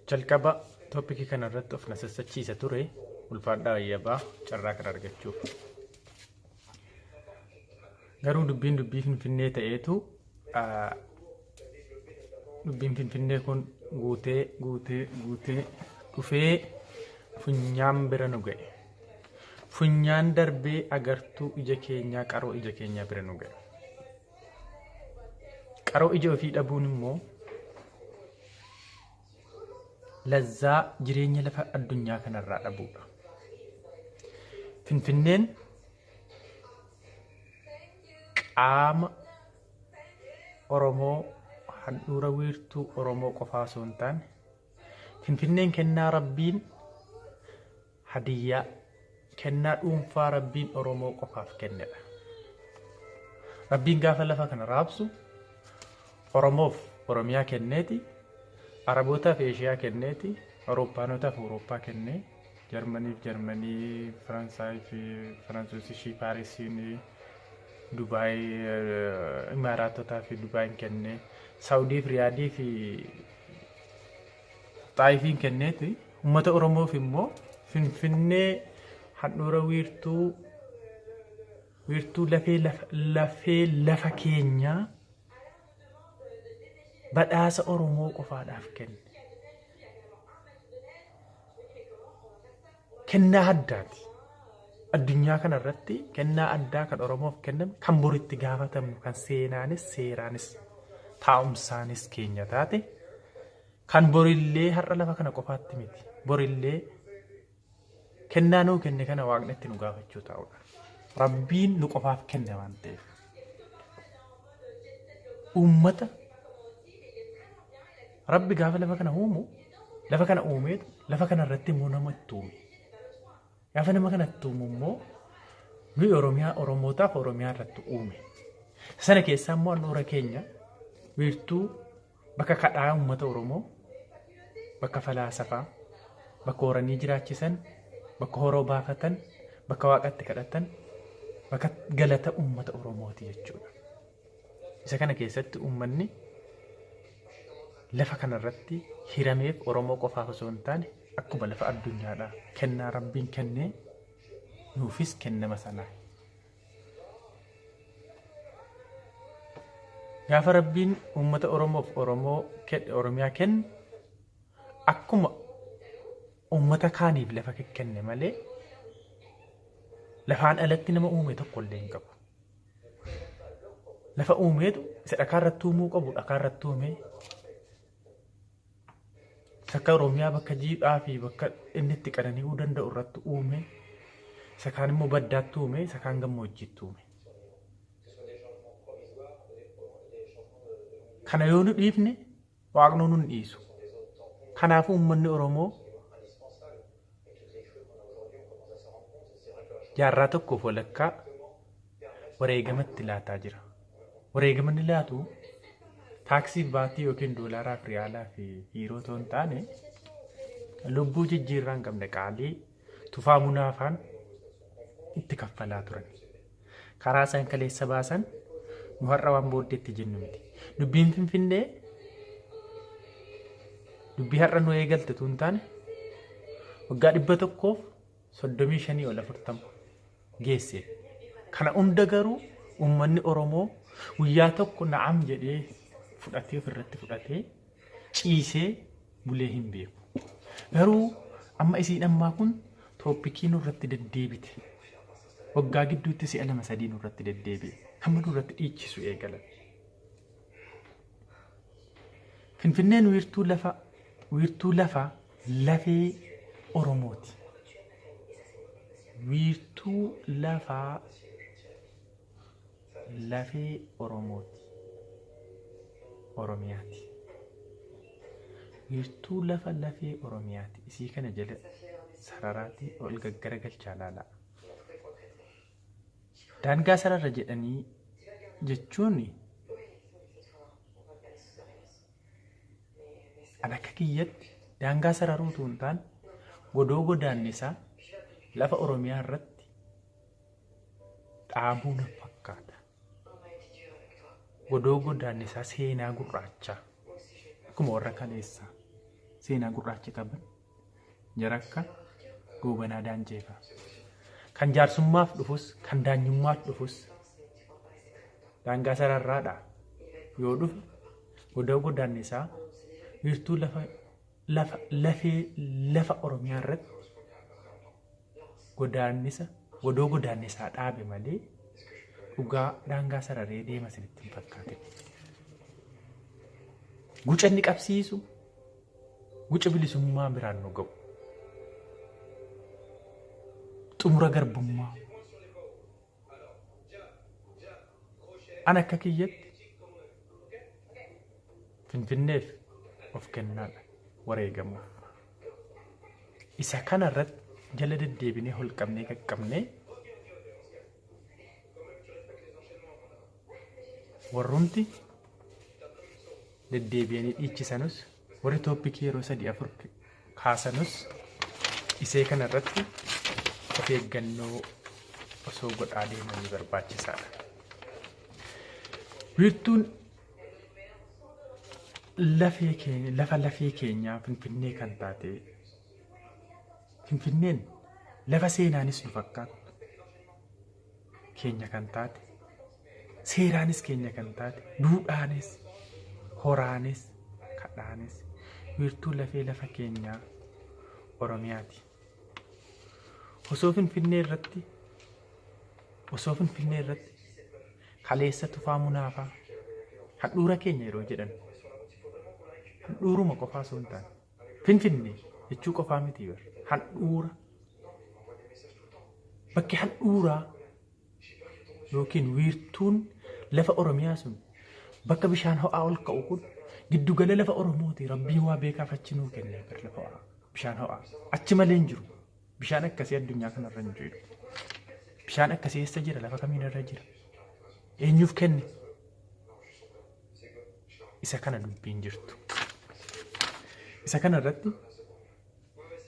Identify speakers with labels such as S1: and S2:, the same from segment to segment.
S1: Jalqaba toopikii kana irratti of na sassachiisa ture ulfaadhaa ayyabaa carraa kana argachuuf. Garuu dubbiin dubbii finfinnee ta'eetu ah, dubbiin finfinnee kun guutee guutee guutee dhufee funyaan bira nu ga'e. Funyaan darbee agartuu ija keenyaa qaroo ija keenyaa bira nu ga'e. Qaroo ija ofii dhabuun immoo lazzaa jireenya lafa addunyaa kanarraa dhabuudha. Finfinneen qaama Oromoo handhuura wiirtuu Oromoo qofaa osoo hin taane Finfinneen kennaa Rabbiin Hadiyyaa, kennaa dhuunfaa Rabbiin Oromoo qofaaf kennedha. Rabbiin gaafa lafa kana raabsu Oromoof Oromiyaa kenneeti, Arabootaaf Eeshiyaa kenneeti, Awurooppaanotaaf Awurooppaa kennee, Jarmaniif Jarmanii, Faransaayii fi Faransoos ishii Paarisiin, Dubaay, Imaaraatotaa fi Dubaayin kennee, Saawudii fi Riyaadii fi Xaayifiin kenneeti. Uummata Oromoof immoo Finfinnee handhuura wiirtuu wiirtuu lafee lafa, lafee lafa keenyaa badhaasa Oromoo qofaadhaaf kenne. Kennaa addaati. Addunyaa kana irratti kennaa addaa kan Oromoof kenname kan bor itti gaafatamnu kan seenaanis seeraanis taa'umsaanis keenya taate kan borillee har'a lafa kana qofaatti miti borillee kennaa nuu kenne kana waaqni itti nu gaafachuu taa'udha. Rabbiin nu qofaaf kenne waan ta'eef. Uummata Rabbi gaafa lafa kana uumu lafa kana uumeetu lafa kana irratti immoo nama itti uume. Gaafa nama kana itti uumu immoo nuyi Oromiyaa Oromootaaf Oromiyaa irratti uume. Sana keessaa immoo handhuura keenya wiirtuu bakka kadhaa uummata Oromoo bakka falaasafaa bakka horanii jiraachisan bakka horoo baafatan bakka waaqatti kadhatan bakka galata uummata Oromooti jechuudha. Isa kana keessatti uummanni lafa kanarratti hirameef Oromoo qofaaf osoo hin taane akkuma lafa addunyaadhaa kennaa rabbiin kennee nuufis kennama sanaa. Gaafa rabbiin uummata Oromoof Oromoo kenne Oromiyaa kennu akkuma uummata kaaniif lafa kenne malee lafaan alatti nama uume tokko illee hin qabu. lafa uumeetu isa dhakaa irratti uumuu qabu dhakaa irratti uumee sakka oromiyaa bakka jiidhaa fi bakka inni itti qanani'uu danda'u irratti uumee isa kaan immoo baddaatti uumee isa kaan gammoojjiitti uumee. Kana yoo nu dhiifne Waaqnuu nun dhiisu. Kanaafuu uummanni Oromoo jaarraa tokkoof walakkaa wareegamatti laataa jira. Wareegamanni laatu taaksii fi baatii yookiin doolaaraa fi riyaalaa fi hiiroo otoo hin taane lubbuu jijjiirraa hin qabne qaalii Tufaa Munaa faan itti kaffalaa turan. Karaa isaan kaleessa baasan nu har'a waan booddeetti jennu miti. Dubbiin Finfinnee dubbii har'a nu eegalte tun taane waggaa dhibba tokkoof soddomii shanii ol afurtama. geesse. Kana hunda garuu uummanni Oromoo guyyaa tokko na'am jedhee fudhatee ofirratti fudhatee ciisee bulee hin beeku. Garuu amma isiin ammaa kun tooppikii nurratti deddeebite. Waggaa gidduutti si'a lama sadii nurratti deddeebi'e. Hamma nurratti dhiichisu eegalan. Finfinneen wiirtuu lafa wiirtuu lafa lafee Oromooti. Wiirtuu lafa lafee Oromooti. Oromiyaati. Wiirtuu lafa lafee Oromiyaati. Isii kana jala sararaatii ol gaggaragalchaa laalaa. Daangaa sarara jedhanii jechuun an akka kiyyatti daangaa sararuu utuu hin taane godoo godaannisaa lafa Oromiyaa irratti dhaabuu na fakkaata. Godoo godaannisaa seenaa gurraachaa akkuma warra kaleessaa seenaa gurraacha qaban Jarakka Goobanaa Daanceefa. Kan jaarsummaaf dhufus, kan daanyummaaf dhufus daangaa sararraadha. Yoo dhufe godoo godaannisaa wiirtuu lafa lafa lafee lafa Oromiyaa irratti godaannisa godoo godaannisaa dhaabe malee dhugaa daangaa sararee deema isinitti hin fakkaatin. Guca inni qabsiisu guca bilisummaa biraan nu ga'u. Xumura garbummaa. An akka kiyyatti Finfinneef of kennaadha wareegamuuf. Isa kana irratti jala deddeebinee holqabnee qaqqabnee warrumti deddeebi'anii dhiichisanus Warri tooppikii yeroo sadii afur kaasanus isee kana irratti of eeggannoo osoo godhaa deemanii barbaachisaadha. Wiirtuun lafee keenya lafa lafee keenyaa Finfinnee kan taate Finfinneen lafa seenaanis nu fakkaattu keenya kan taate seeraanis keenya kan taate duudhaanis horaanis kadhaanis wiirtuu lafee lafa keenyaa oromiyaati osoo finfinnee irratti osoo finfinnee irratti kaleessa tufaa munaafaa handhuura keenya yeroo jedhan handhuuruma qofaa osoo hin taane Finfinnee jechuu qofaa miti bar. Handhuura. Bakki handhuuraa yookiin wiirtuun lafa Oromiyaa sun bakka bishaan ho'aa ol ka'u kun giddu gala lafa Oromooti. Rabbiin waa beekaaf achi nuu kenne bar lafa ho'aa. Bishaan ho'aa. Achi malee hin jiru. Bishaan akkasii addunyaa kanarra hin jiru. Bishaan akkasii eessa jira? Lafa kamiin irra jira? Eenyuuf kenne? isa kana dubbiin jirtu. Isa kana irratti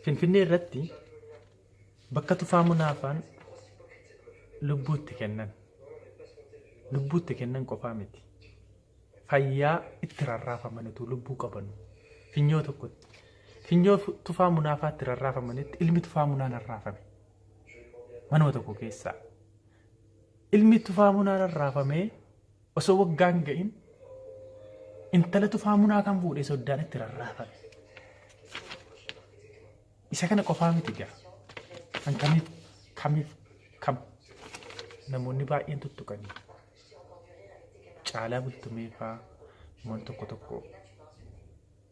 S1: Finfinnee irratti bakka tufaa munaafaan lubbuutti kennan. Lubbuutti kennan qofaa miti. Fayyaa itti rarraafaman utuu lubbuu qabanu. Finyoo tokkotti. Finyoo fu- tufaa munaafaa itti rarraafamanitti ilmi tufaa munaan rarraafame. Manuma tokko keessaa. Ilmi tufaa munaan rarraafamee Osoo waggaa hin ga'in intala tufaa munaa kan fuudhee soddaan itti rarraafame. Isa kana qofaa miti gaa. Kan kamiif kamiif kam namoonni baay'een tuttuqanii caalaa bultumee faa namoonni tokko tokko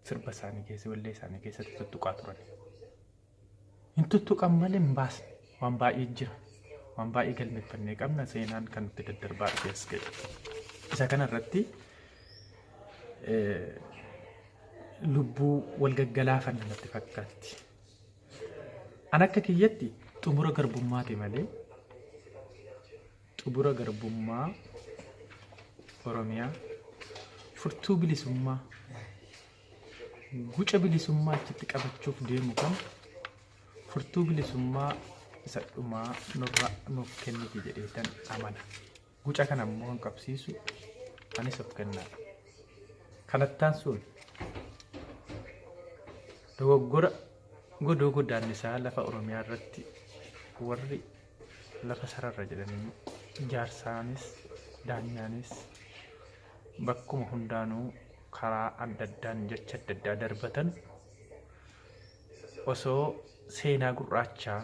S1: sirba isaanii keessa wallee isaanii keessatti tuttuqaa turan. hin tuttuqan malee hin baasne waan baay'ee jira waan baay'ee galmeeffannee qabna seenaan kan nutti daddarbaa dhufe as ga'e isa kana irratti lubbuu wal gaggalaafan namatti fakkaatti an akka kiyyatti xumura garbummaati malee xumura garbummaa oromiyaa furtuu bilisummaa Guca bilisummaa achitti qabachuuf deemu kun furtuu bilisummaa isa dhumaa nurra nuuf kenniti jedheetan amana. Guca kana immoo kan qabsiisu anis of kennaadha. Kanattaan sun dogoggora godoo godaannisaa lafa Oromiyaa irratti warri lafa sarara jedhanii jaarsaanis daanyaanis bakkuma hundaanuu karaa adda addaan jecha adda addaa darbatan osoo seenaa gurraachaa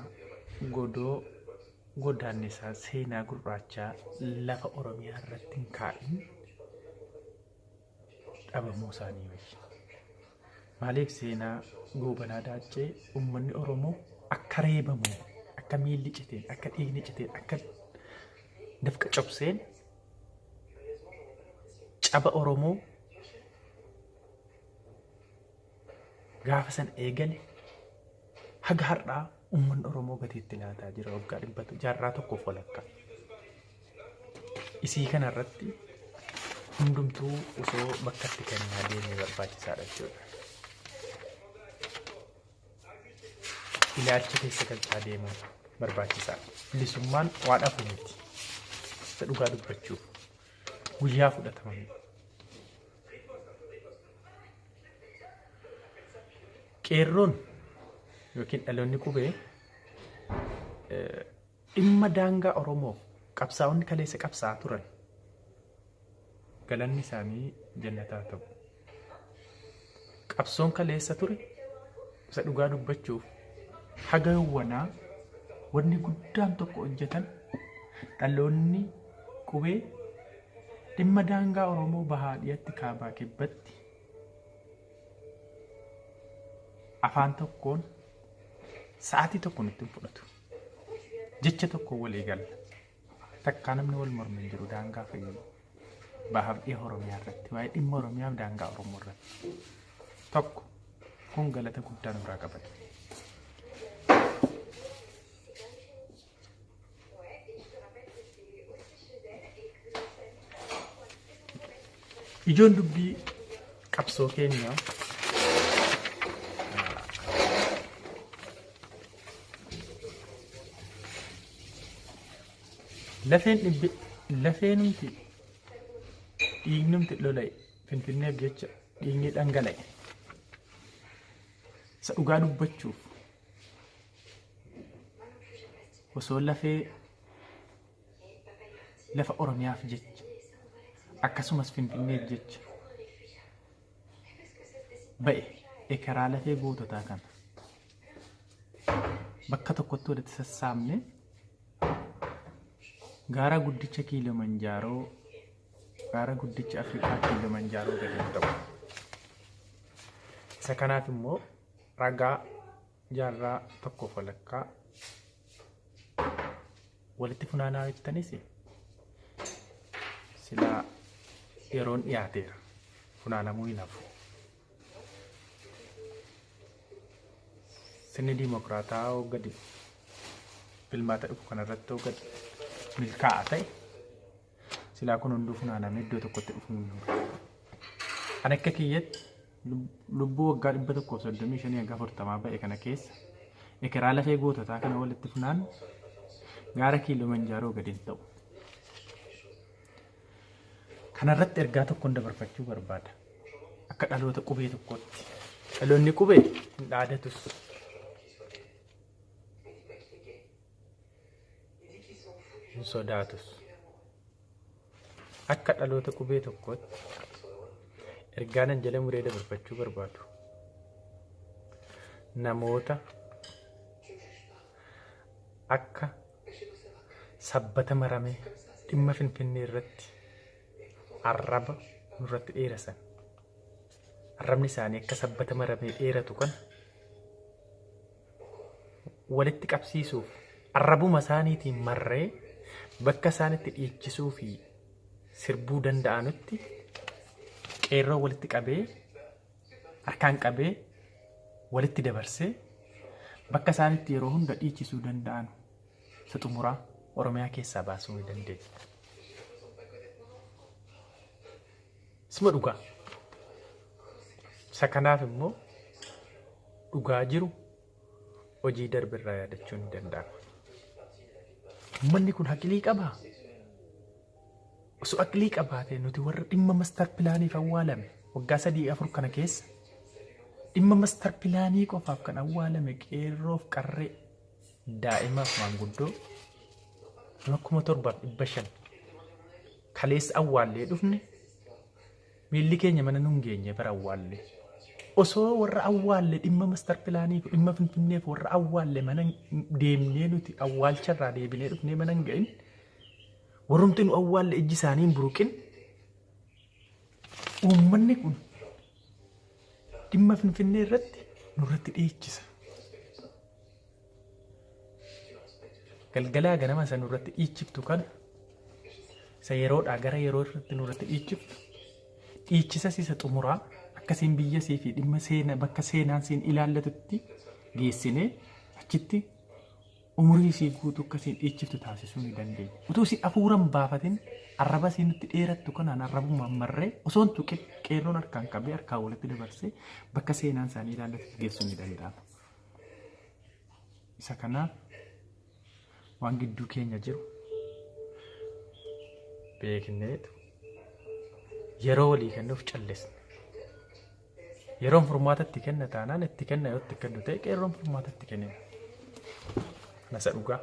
S1: godoo godaannisaa seenaa gurraachaa lafa oromiyaa irratti hin kaa'in dhabamuu isaanii wayya. Maaliif seenaa goobanaa daaccee uummanni Oromoo akka reebamu akka miilli citeen akka dhiigni citeen akka dafqa cobseen caba Oromoo gaafa san eegale haga har'aa uummanni Oromoo gatii itti laataa jira waggaa dhibbatu jaarraa tokkoof walakkaa. isii kana irratti hundumtuu osoo bakka itti kennaa deemee barbaachisaadha jechuudha. Ilaalcha keessa galchaa deemuun barbaachisaadha. Bilisummaan waa dhabu miti. Isa dhugaa dubbachuuf guyyaa fudhatama miti. Qeerroon yookiin dhaloonni qubee eh, Dhimma daangaa Oromoof qabsaa'onni kaleessa qabsaa'aa turan galanni isaanii jannata haa ta'u. Qabsoon kaleessa ture isa dhugaa dubbachuuf haga yawwanaa wanni guddaan tokko hojjetan dhaloonni qubee dhimma daangaa Oromoo bahaa dhiyatti kaabaa kibbatti afaan tokkoon sa'aatii tokkoon ittiin fudhatu. jecha tokko walii galla. Takkaa namni wal mormu hin jiru daangaa fi bahaaf dhiha Oromiyaa irratti waa'ee dhimma Oromiyaaf daangaa Oromoo irratti. Tokko kun galata guddaa nurraa qabata. Ijoon dubbii qabsoo keenyaa Lafeen dhibbe lafeenumti dhiignumti lola'e finfinneef jecha dhiigni dhangala'e isa dhugaa dubbachuuf osoo lafee lafa oromiyaaf jecha akkasumas finfinneef jecha ba'e ekeraa lafee goototaa kana bakka tokkotti walitti sassaabne gaara guddicha kiilomanjaaroo gaara guddicha afrikaa kiilomanjaaroo gadi hin ta'u isa kanaaf immoo ragaa jaarraa tokkoof walakkaa walitti funaanaa jettanis silaa yeroon dhiyaateera funaanamuu hin hafu Sirni diimokiraataa hoo gadi filmaata dhufu kanarratti hoo gadi milkaa'a ta'e silaa kun hunduu funaanamee iddoo tokkotti dhufu hin jiru. Ani akka kiyyatti lubbuu waggaa dhibba tokkoo fi soddomii shanii hanga afurtamaa ba'e kana keessa ekeraa lafee goototaa kana walitti funaan gaara kiiloo manjaaroo gadi hin ta'u. Kana irratti ergaa tokkoon dabarfachuu barbaada. Akka dhaloota qubee tokkootti. Dhaloonni qubee hin dhaadatus. Hin sodaatus. Akka dhaloota qubee tokkootti ergaa nan jala muree dabarfachuu barbaadu. Namoota akka sabbata maramee dhimma Finfinnee irratti arraba nurratti dheerasan. Arrabni isaanii akka sabbata maramee dheeratu kana walitti qabsiisuuf arrabuma isaaniitiin marree bakka isaan itti dhiichisuu fi sirbuu danda'anutti qeerroo walitti qabee harkaan qabee walitti dabarsee bakka isaanitti yeroo hunda dhiichisuu danda'an isa xumuraa Oromiyaa keessaa baasuu ni dandeenya. Isuma dhugaa. Isa kanaaf immoo dhugaa jiru hojii darbe irraa yaadachuun ni danda'ama. Uummanni kun haqilii qabaa? Osoo aqlii qabaatee nuti warra dhimma mastar pilaaniif awwaalame waggaa sadii afur kana keessa dhimma mastar pilaanii qofaaf kan awwaalame qeerroof qarree daa'imaaf maanguddoo nama kuma torbaaf dhibba shan kaleessa awwaallee dhufne miilli keenya mana nun geenye bara awwaalle osoo warra awwaalle dhimma mastar pilaaniif dhimma finfinneef warra awwaalle mana deemnee nuti awwaalcharraa deebinee dhufnee mana hin ga'in Warrumti nu awwaalle ijji isaanii hin buruqin. Uummanni kun dhimma Finfinnee irratti nurratti dhiichisa. Galgalaa ganama isa nurratti dhiichiftu kana isa yeroodhaa gara yeroo irratti nurratti dhiichiftu dhiichisas isa xumuraa akkasiin biyya sii fi dhimma seena bakka seenaan siin ilaallatutti geessinee achitti umurii isii guutuu akka isiin dhiichiftu taasisuu ni dandeenya. Utuu isii afuuran baafatin arraba isii nutti dheerattu kanaan arrabummaan marree osoo hin tuqin qeerroon harkaan qabee harkaan walitti dabarsee bakka seenaan isaanii ilaallatutti geessuu ni danda'a. Isa kanaaf waan gidduu keenya jiru beekneetu yeroo walii kennuuf callisne. Yeroon furmaata itti kenna taanaan itti kenna yoo itti kennu ta'e qeerroon furmaata itti kennina. Kana isa dhugaa.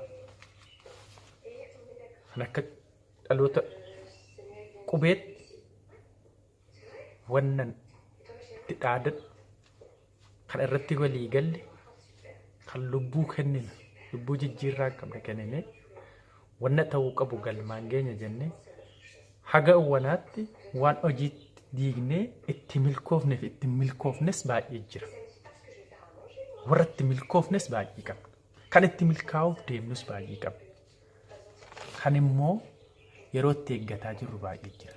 S1: Kan akka dhaloota qubeetti wannan itti dhaadadhu kan irratti walii galle kan lubbuu kennina lubbuu jijjiirraa qabne kenninee Wanna ta'uu qabu galmaan geenya jennee haga wanaatti waan hojiitti diignee itti milkoofne fi itti milkoofnes baay'ee jira. Warra itti milkoofnes baay'ee qabna. Kan itti milkaa'uuf deemnus baay'ee qabna. Kan immoo yeroo itti eeggataa jirru baay'ee jira.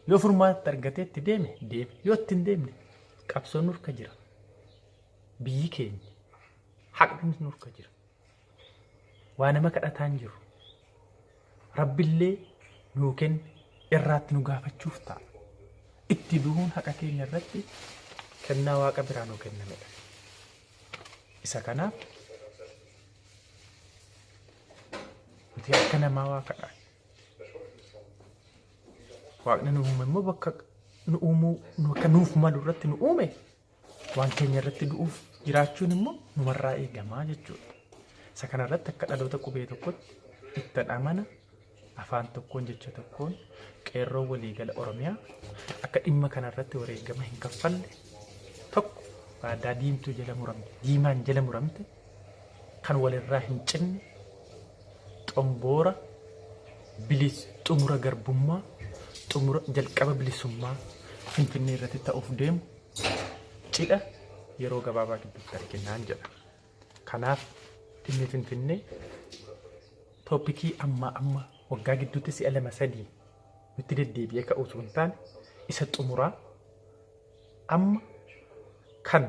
S1: Yoo furmaata argatee itti deeme deeme. Yoo itti hin deemne qabsoon nurka jira. Biyyi keenya haqni nurka jira. waa nama kadhataa hin jiru. Rabbillee nuu kenne irraatti nu gaafachuuf ta'a. Itti du'uun haqa keenya irratti kennaa waaqa biraa nuu kennamedha. Isa kanaaf nuti akka namaa waa kadhaa. Waaqni nu uume immoo bakka nu uumuu nu akka nuuf malu irratti nu uume Waan keenya irratti du'uuf jiraachuun immoo numarraa eegamaa jechuudha. Isa kana irratti akka dhaloota qubee tokkotti ittan amana afaan tokkoon jecha tokkoon qeerroo waliigala Oromiyaa akka dhimma kana irratti wareegama hin kaffalle tokko waadaa diimtuu jala muramte diimaan jala muramte kan walirraa hin cinne xomboora bilis xumura garbummaa xumura jalqaba bilisummaa Finfinnee irratti ta'uuf deemu cidha yeroo gabaabaa gidduutti arginaan jedha. Kanaaf dhimmi Finfinnee tooppikii ammaa amma waggaa gidduutti si'a lama sadii nutti deddeebi'ee ka'u osoo hin taane isa xumuraa amma kan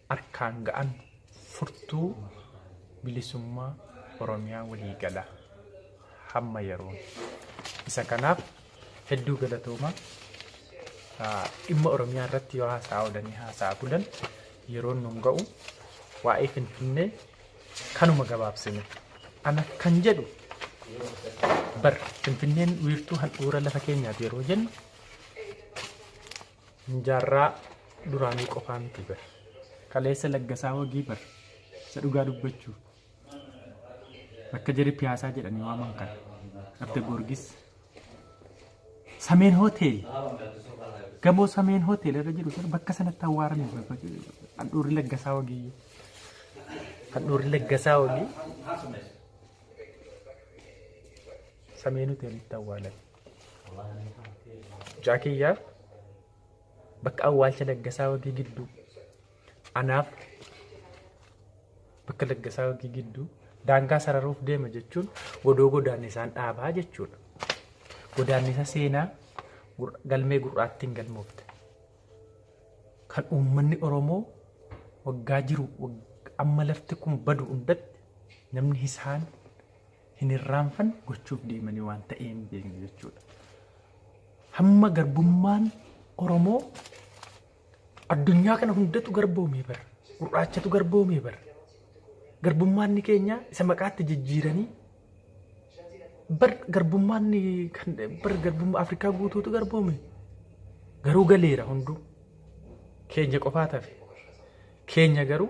S1: harkaan ga'an furtuu bilisummaa Oromiyaa waliigalaa hamma yeroon isa kanaaf hedduu galatoomaa Ah, dhimma Oromiyaa irratti yoo haasa'aa oolanii haasa'aa bulan yeroon nun ga'u waa'ee Finfinnee kanuma gabaabsine ana kan jedhu bar Finfinneen wiirtuu handhuura lafa keenyaati yeroo jennu Hin jaarraa duraanii qofaa miti bar. Kaleessa laggasaa wagii bar. Isa dhugaa dubbachuuf. Bakka jarri piyaasaa jedhanii waaman kana. Abda Goorgis. Sameen hotel. Gamoo Sameen hotel irra jiru sana bakka sanatti awwaarame handhuurri laggasaa wagii. Handhuurri laggasaa wagii. Sameen hotel itti awwaalame. Mucaa kiyyaaf bakka awwaalcha laggasaa wagii gidduu anaaf bakka laggasaa wagii gidduu daangaa sararuuf deema jechuun godoo godaannisaan dhaabaa jechuudha. Godaannisa seenaa gur- galmee gurraattiin galmoofte. Kan uummanni Oromoo waggaa jiru wag- amma lafti kun badu hundatti namni isaan hin irraanfanne gochuuf deemanii waan ta'ee hin beekne jechuudha. Hamma garbummaan Oromoo addunyaa kana hundatu garboomee bara. Gurraachatu garboomee bara. Garbummaan keenya isa maqaatti jijjiiranii bar garbummaan kan bar garbummaa Afrikaa guutuutu garboome. Garuu galeera hunduu. Keenya qofaa tafe. Keenya garuu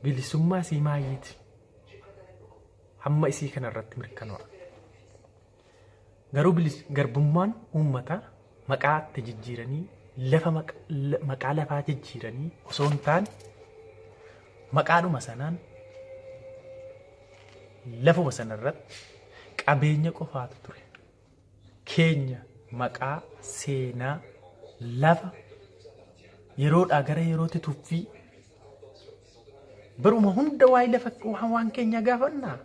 S1: bilisummaa sii maayiiti. hamma isii kana irratti mirkanoo'a. Garuu bilis garbummaan uummata maqaa itti jijjiiranii lafa maqaa lafaa jijjiiranii osoo hin taane maqaadhuma sanaan lafuma sanarratti qabeenya qofaatu ture. keenya maqaa, seenaa, lafa yeroodhaa gara yerootti tuffii baruma hunda waa'ee lafa waan waan keenya gaafannaa.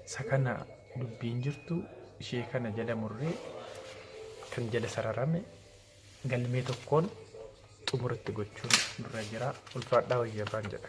S1: Isa kana dubbiin jirtu ishee kana jala murree kan jala sararame galmee tokkoon xumuratti gochuun nurra jira. Ulfaadhaa wayya irraan jedha.